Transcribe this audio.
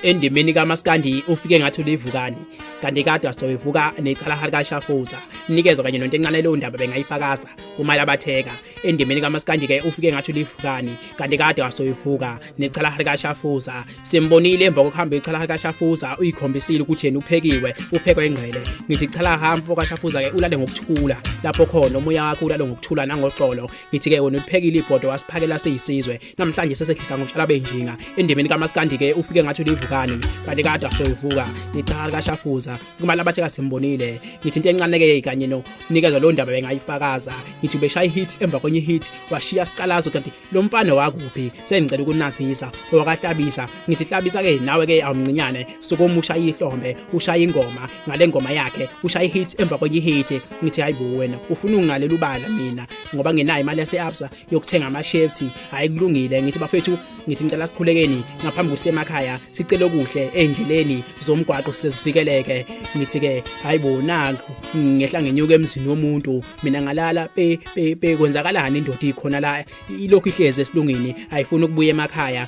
endimeni kamaskandi ufike ngathi ulivukani kanti kade wasoyivuka neqhalahari kashafuza nikezwa kanye nonto encane leyo ndaba bengayifakaza kumali abatheka endimeni kamaskandi-ke ufike ngathi ulivukani kanti kade wasoyivuka neqhalahari kashafuza simbonile emva kokuhamba iqhalahari kashafuza uyikhombisile ukuthi yena uphekiwe uphekwa ingqele ngithi qhalaha mfo kashafuza-ke ulale ngokuthula lapho khona umoya wakho ulale ngokuthula nangoxolo ngithi-ke wena uliphekile ibhodo wasiphakela siyisizwe namhlanje sesehlisa ngomshala benjinga endemeni kamaskandi ke ufike ngathi ulivukani kanti kade asoyivuka ngicala likashafuza kumali abathe kasimbonile ngithi into encane ke kanye no nikezwa lo ndaba bengayifakaza ngithi ubeshaya ihit emva kwenye ihit washiya siqalazo kanti lo mfana wakuphi sengicela ukunasisa wakatabisa ngithi hlabisa ke nawe ke awumncinyane sokomusha ihlombe ushaya ingoma ngale ngoma yakhe ushaya ihit emva kwenye ihit ngithi hayibo wena ufuna ungalela ubala mina ngoba ngenayo imali yase-absa yokuthenga amashefthi hayi kulungile ngithi bafethu ngithi ngicela sikhulekeni ngaphambi kusemakhaya sicele okuhle endleleni zomgwaqo sesifikeleke ngithi ke hayibo naku ngehla ngenyuka emzini womuntu mina ngalala pe pe kwenzakalani indoda ikhona la ilokhu ihlezi esilungini ayifuni ukubuya emakhaya